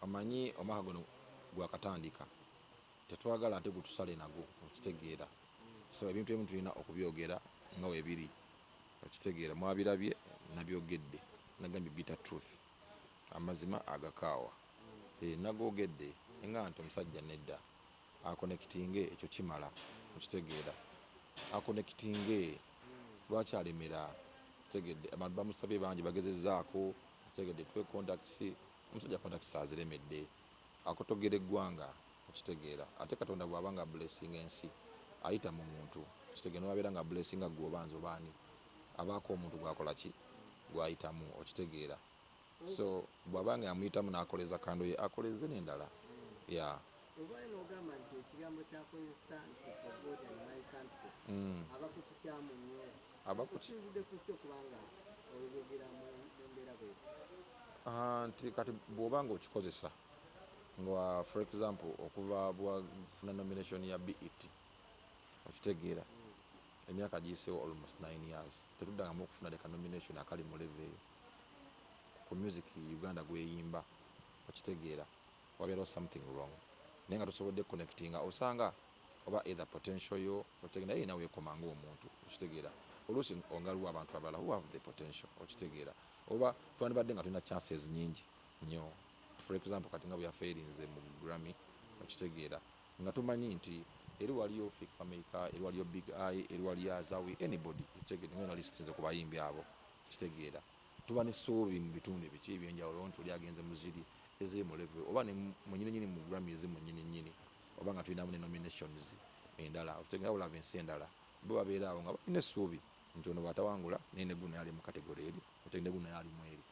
Omanyi omwaka guno gwakatandika tetwagala ate gutusale nago okitegeera so ebintu ebimu tulina okubyogera nga webiri okitegeera mwabirabye nabyogedde nagambye bitter truth amazima agakaawa eeh nagoogedde nga nti omusajja nedda akonekitinge ekyo kimala okitegeera akonekitinge lwaki alemera okitegedde abantu bamusabye bangi bagezezaako okitegedde tuwe contacts Omusajja contacts aziremedde. Akotogera eggwanga okitegeera ate katonda bwaba nga blessinga ensi ayita mu muntu okitegeera nebwabeera nga blessinga gwe oba nze oba ani abaako omuntu gwakola ki gwayitamu okitegeera so bwaba nga yamuyitamu nakoleza kando ye akoleze nendala yeah. Ovaayo n'ogamba nti ekigambo ky'akozesa nti for God and my country aba ku kikyamu nnyo. Ah, nti kati bwoba nga okikozesa nga for example okuva bwafuna nomination ya bet okitegeera emyaka giyiseewo almost 9 years tetuddangamu okufuna leka nomination akali mu leve eyo ku music uganda gweyimba okitegeera wabeerawo something wrong naye nga tusobodde connectinga osanga oba either potential yo otegera naye yena wekoma nga omuntu okitegera oluusi ongalwa abantu abalala who have the potential okitegera oba twandibadde nga tulina chances nyingi nyo for example kati nga bweyaferinze mu Grammy okitegera nga tumanyi nti eri waliyo Fik Fameica eri waliyo Big Eye eri waliyo Azawi anybody okitegera nga yona listinze ku bayimbi abo okitegera tuba ne suubi mu bitundu ebiki ebyenjawulo nti oli agenze mu ziri eziri mu level oba ne mu nyini nyini mu Grammy ezimu nyini nyini oba nga tulinamu ne nominations endala okitegera bulaba ensi endala bo babeera awo nga balina essuubi nti ono bwatawangula naye ne guno yali mu kategole eri okitegera ne guno yali mu eri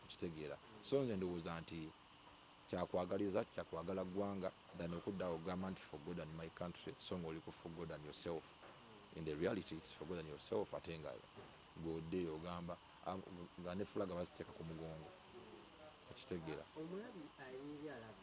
okitegeera so nze ndowooza nti kyakwagaliza kyakwagala ggwanga than okudda awo ogamba nti for God and my country so nga oli ku for God and yourself in the reality it's for God and yourself ate nga gwodde ogamba ah, nga ne fulaga baziteeka ku mugongo okitegeera omulabi alinga alaba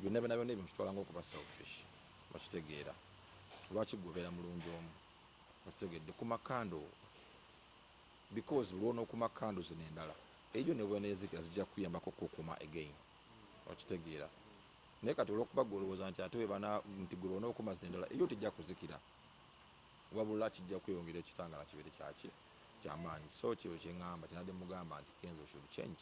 Byonna byonna byonna ebyo nkitwala ng'okuba selfish. Okitegeera? Lwaki ggwe obeera mulungi omu? Okitegedde? Kuma candle wo. Because lw'onookuma candle zino endala, ejo ne bw'eneezikira zijja kukuyambako okukukuuma again. Okitegeera? Naye kati olw'okuba ggwe olowooza nti ate bwe bana, nti ggwe bw'onookuma zino endala, ejo tejja kuzikira. Wabula kijja kweyongera ekitangaala kibeere kya ki? Kya maanyi. So ky'ekyo kye ŋŋamba, kye nabadde mmugamba nti, Kenzo should change.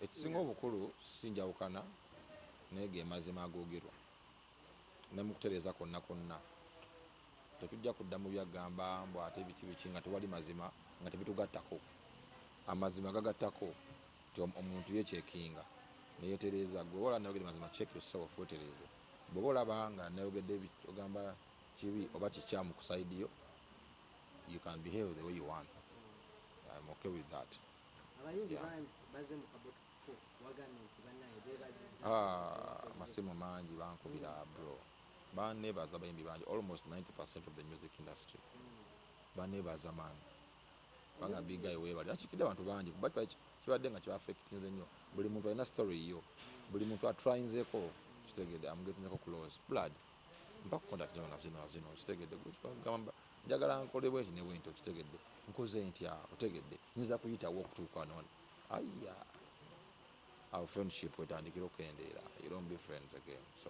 ekisinga obukulu si njawukana naye ge mazima agoogerwa ne mu kutereeza kwonna kwonna. Tetujja kudda mu byagamba mbu ate biki biki nga tewali mazima nga tebitugattako. Amazima gagattako Nti omuntu ye cekinga neyetereeza gwe oba olaba nayogede mazima check your self wetereeze bwoba olaba nga nayogede kyogamba kibi oba kikyamu ku side yo you can behave the way you want I'm okay with that abayimbi bangi baze mu kabox ko wagambye nti banaye bebaziza ah masimu mangi bankubira bro banebaza abayimbi bangi almost 90% of the music industry mm. banebaza man Banga big guy webale akikide abantu bangi kuba kibadde nga kibafectinze nyo buli muntu alina story yo buli muntu atrayinzeko kitegede am getting ko close blood mpa contact zino na zino na zino kitegede gamba njagala nkole bwenti ne bwenti okitegedde nkoze ntya otegedde nyinza kuyitawo okutuuka noni aya our friendship wetandikira okukendeera you don't be friends again so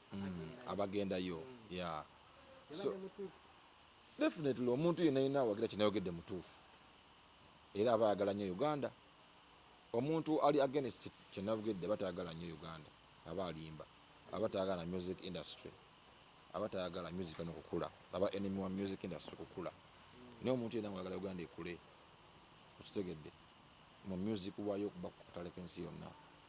mm, abagendayo yeah. so, definitely omuntu yena yena awagira kinayogedde mutuufu era aba ayagala nnyo uganda omuntu ali against kyenavugedde aba tayagala nnyo uganda aba alimba aba tayagala music industry aba tayagala music no kukula aba enemy wa music industry kukula naye omuntu yena mwagala uganda ekule okitegedde mu music wayo okuba kutaleka ensi yonna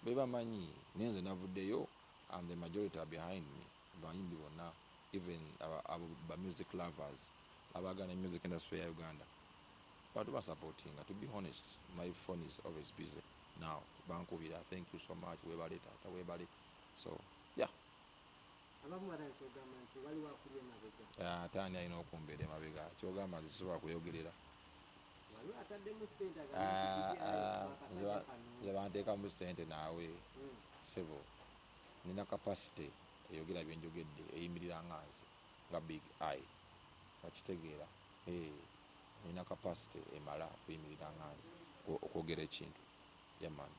Bebamanyi naye nze navudeyo and the majority are behind me bayimbi bona even abo ba music lovers abagala ne music industry ya Uganda bona tubasapotinga to be honest my phone is always busy now bankubira thank you so much webale taata webale so yeah. Abamu batandise okugamba nti waliwo akuli emabega. Ate ani alina okumbeera emabega? Kyogamba nze sisobola kuyogerera? Waliwo ataddemu ssente agambye nti banteekamu ssente naawe hmm. sebo nina capacity eyogera byenjogedde eyimirira nga nze nga big i okitegeera nina capacity emala okuyimirira nga nze okwogera ekintu yamani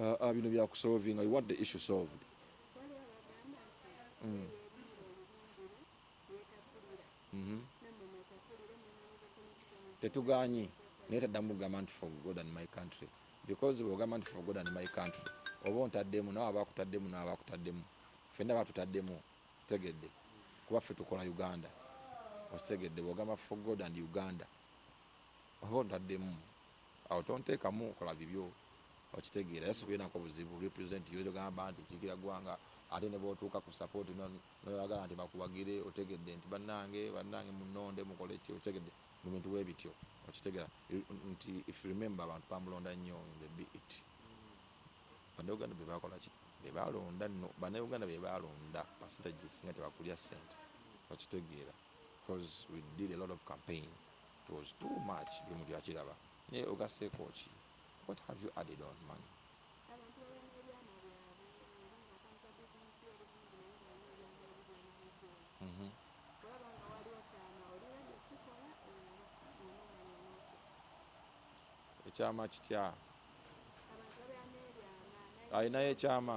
Ah, ah, bino bya kusolvinga you want the issue solved mm. mm-hmm. tetuganyi naye taddamu kugamba nti for god and my country because bwogamba nti for god and my country oba ontaddemu nawe aba akutaddemu nawe aba akutaddemu fenna batutaddemu tegedde kuba ffe tukola uganda okitegedde bwogamba for god and uganda oba ontaddemu Awo tontekamu kola bibyo okitegeera era sikulinako buzibu represent you togamba nti kikira gwanga ate nebwotuuka ku support no noyagala nti bakuwagire otegedde nti banange banange munonde mukole ki okitegedde mu bintu bwebityo okitegera nti if you remember abantu bamulonda nnyo in the be it banauganda bebakola ki bebalonda no banauganda bebalonda percentage singa tebakulya sente okitegeera. coz we did a lot of campaign it was too much buli muntu yakiraba naye ogaseeko ki what have you added on man mhm. ekyama kitya alinayo ekyama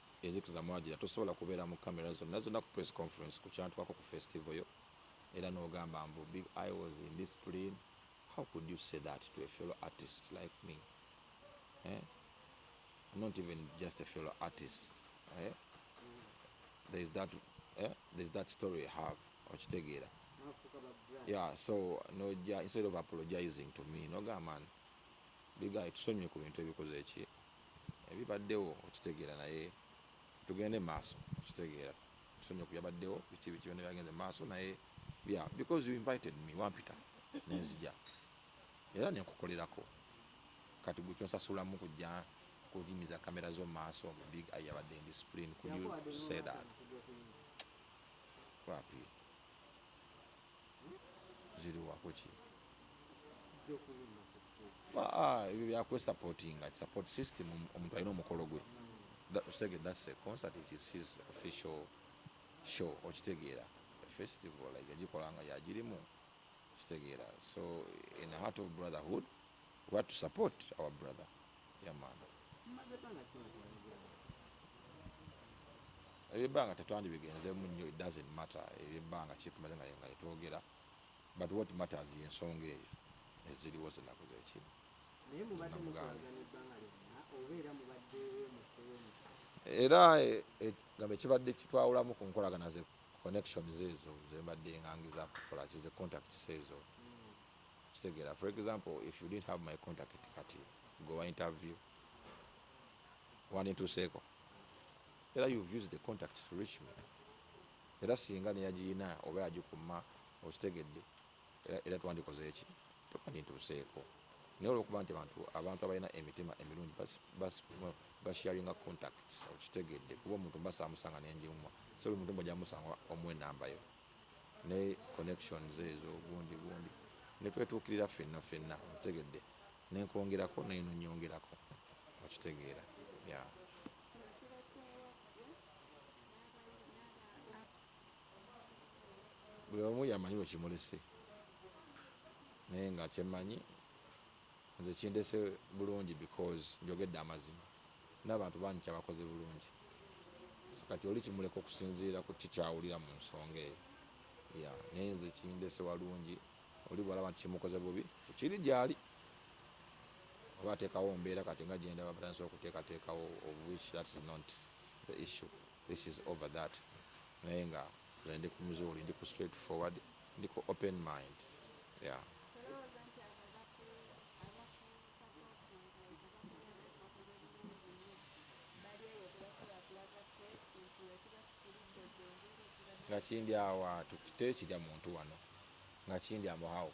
Ezikiza mwagira tosobola kubeera mu camera zonna zonna ku press conference ku kyantwako ku festival yo era nogamba mbu big eye was indiscipline how could you say that to a fellow artist like me eh I'm not even just a fellow artist eh there is that eh there is that story I have okitegeera yeah so noja instead of apologizing to me nogamba big eye tusonyiwe ku bintu ebikoze ki Ebibaddewo okitegeera naye tugende maaso okitegeera tusonyiwe kubyabaddewo biki biki byona byagenze maaso naye yeah because you invited me wampita nenzija era nenkukolerako kati gwe kyonsasulamu kujja kunyimiza camera zo maaso mbu big eye yabadde indiscipline could you say that wapi ziriwa kuki ebyo byakwesapotinga support system omuntu alina omukolo gwe okitegere that's a concert it is his official show okitegeera festival like yagikola nga yagirimu okitegeera so in heart of brotherhood we have to support our brother yamana ebyebbanga tetwandibigenzemu nnyo it doesn't matter ebyebbanga kitumaze nga yetwogera But what matters ye nsonga eyo eziriwo zenaku zekiri. Naye mubadde mukolagana ebbanga lyonna oba era mubadde wemukuwemu? Era gamba ekibadde kitwawulamu ku nkolagana ze connections ezo zembadde ngangiza kukolaki ze contacts ezo hmm. kitegeera for example if you didn't have my contact kati gwe wa interview wandintuuseeko era you've used the contact to reach me Era singa neyagiyina oba yagikumma okitegedde era era twandikoze ki to kandintuuseeko naye olwokuba nti abantu abantu abalina emitima emilungi bas bas ba sharinga contacts okitegedde kuba omuntu mba samusanga nenjimumwa so buli muntu mbu ojja musanga omuwa enamba yo ne connections ezo gundi gundi netwetuukirira ffenna ffenna okitegedde nenkwongerako naye nonyongerako okitegeera yeah. buli omu yamanyi wekimulese naye nga kyemanyi nze kindese bulungi because njogedde amazima nabantu bangi kyabakoze bulungi so kati oli kimuleka okusinziira ku ki kyawulira mu nsonga eyo yeah. naye nze kindese walungi oli bwalaba nti kimukoze bubi kiri gyali oba atekawo mbeera kati nga gyendaba batandise okuteekateekawo of which that is not the issue this is over that naye nga nze ndi ku mzuuli ndi ku straight forward ndi ku open mind yeah. nga kindi awa tekirya muntu wano nga kindi amuhawo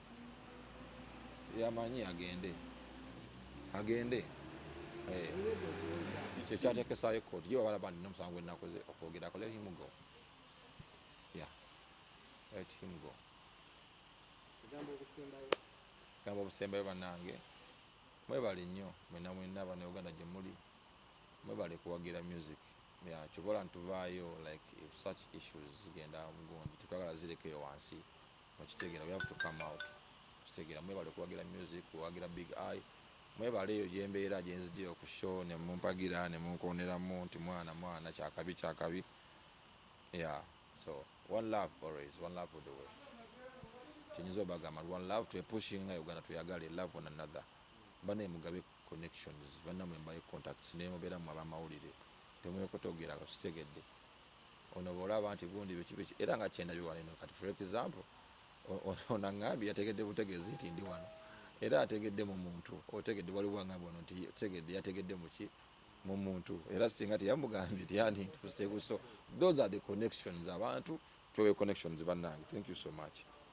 yamanyi agende agende eh. ekyo kyatekesayo ekkooti gye babalaba nti nomusango gwenakoze okwogerako let him go ya let him go gamba obusembayo banange mwebale nnyo mwena mwena abana uganda gyemuli mwebale kuwagira music yakyobola ntuvaayo like if such issues zigenda mugundi tetwagala zirekeyo wansi Okitegera we have to come out. Okitegera mwebale kuwagira music, kuwagira big eye. Mwebale eyo jembeera jenzije ku show ne mumpagira ne munkoneramu nti mwana mwana kyakabi kyakabi. Yeah. So one love always, one love all the way. Kyenyizo bagamba one love to a pushing nga Uganda to yagale love one another. Bana mugabe connections, bana mwe mbaye contacts ne mubera mwa ba mawulire. Temwe kotogera okitegedde. Ono bwolaba nti gundi biki biki era nga kyendabye wano eno kati for example ono angambye yategedde butegezi nti ndi wano era ategedde mu muntu otegedde waliwo angambye wano nti tegedde yategedde muki mu muntu era singa teyamugambye tyandi ntuuse buso those are the connections abantu tuwe connections bannange thank you so much